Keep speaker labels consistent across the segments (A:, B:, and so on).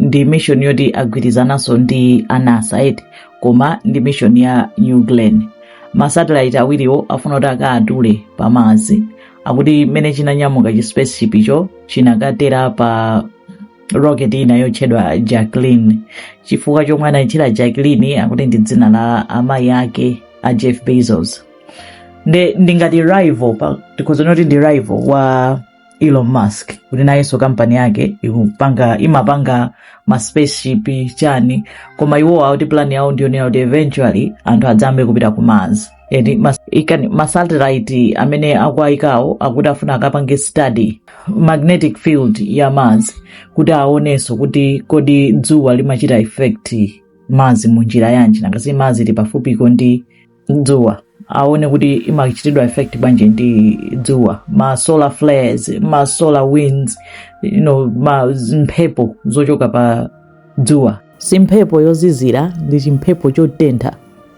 A: ndi mission yoti agwirizananso ndi a nasa eti koma ndi mission ya new glenn masatellite awiriwo afuna kuti akaatule pa mars akuti mmene chinanyamuka chi spaceship icho chinakatera pa rocket ina yotchedwa jacklyn chifukwa chomwe anayitchera jacklyn akuti ndi dzina la amayi ake a jeff bezos ndi ngati rival tikhoza kuti ndi rival wa elon musk kuti nayenso kampani yake ikupanga imapanga ma spaceship chani koma iwo akuti plan yawo ndiyonena kuti eventually anthu adzayambe kupita ku mars eti ma satellite amene akuayikawo akuti afuna akapange study magnetic field ya mars kuti aonenso kuti kodi dzuwa limachita affect mars munjira yanji nanga si mars ili pafupiko ndi dzuwa aone kuti imachitidwa affect bwanji ndi dzuwa ma solar flares ma solar winds you know, mphepo zochoka pa dzuwa si mphepo yozizira ndi chimphepo chotentha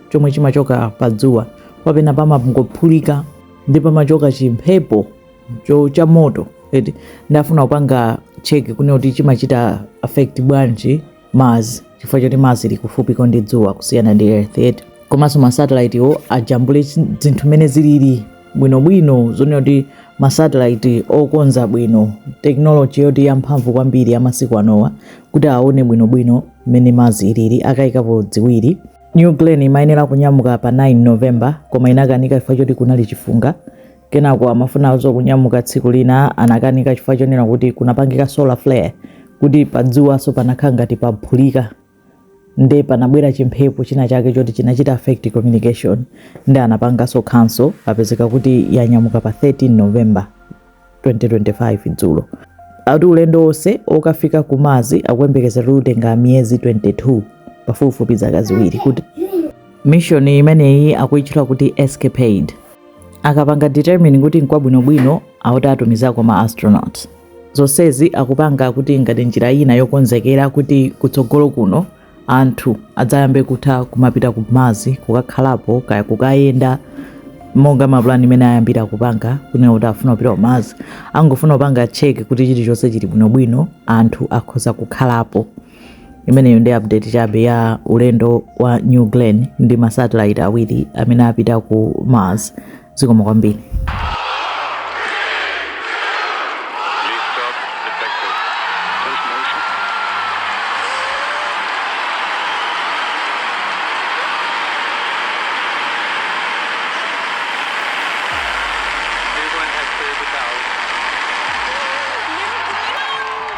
A: chomwe chimachoka pa dzuwa penapake pamangophulika nde pamachoka chimphepo cha moto eti nde afuna kupanga check kunena kuti chimachita affect bwanji Mars chifukwa choti Mars ili kufupiko ndi dzuwa kusiyana ndi Earth eti komanso masatellitewo ajambule chi- zinthu mmene zilili bwinobwino zonena kuti masatellite okonza bwino tekinoloji yoti yamphamvu kwambiri ya masiku anowa kuti aone bwinobwino mmene Mars ilili akayikapo dziwiri new glenn imayenera kunyamuka pa 9 november koma inakanika chifukwa choti kunali chifunga Kenako amafunanso kunyamuka tsiku lina anakanika chifukwa chonena kuti kunachitika solar flare kuti padzuwanso panakhala ngati paphulika nde panabwera chimphepo china chake choti chinachita affect communication nde anapanganso cancel apezeka kuti yanyamuka pa 13 november 2025 dzulo ati ulendo wonse okafika ku mars akuyembekezera kuti utenga miyezi 22 pafupifupi zaka ziwiri kuti mission imeneyi akuitchula kuti escapade akapanga determine kuti nkwabwinobwino akuti atumizako ma astronaut zonsezi akupanga kuti ngati njira ina yokonzekera kuti kutsogolo kuno anthu adzayambe kutha kumapita ku mars kukakhalapo kaya kukayenda monga ma plan mmene ayambira kupanga kunena kuti afuna kupita ku mars angofuna kupanga check kuti chilichonse chili bwinobwino anthu akhoza kukhalapo imeneyo ndi update chabe ya ulendo wa new glenn ndi masatellite awiri amene apita ku mars zikomo kwambiri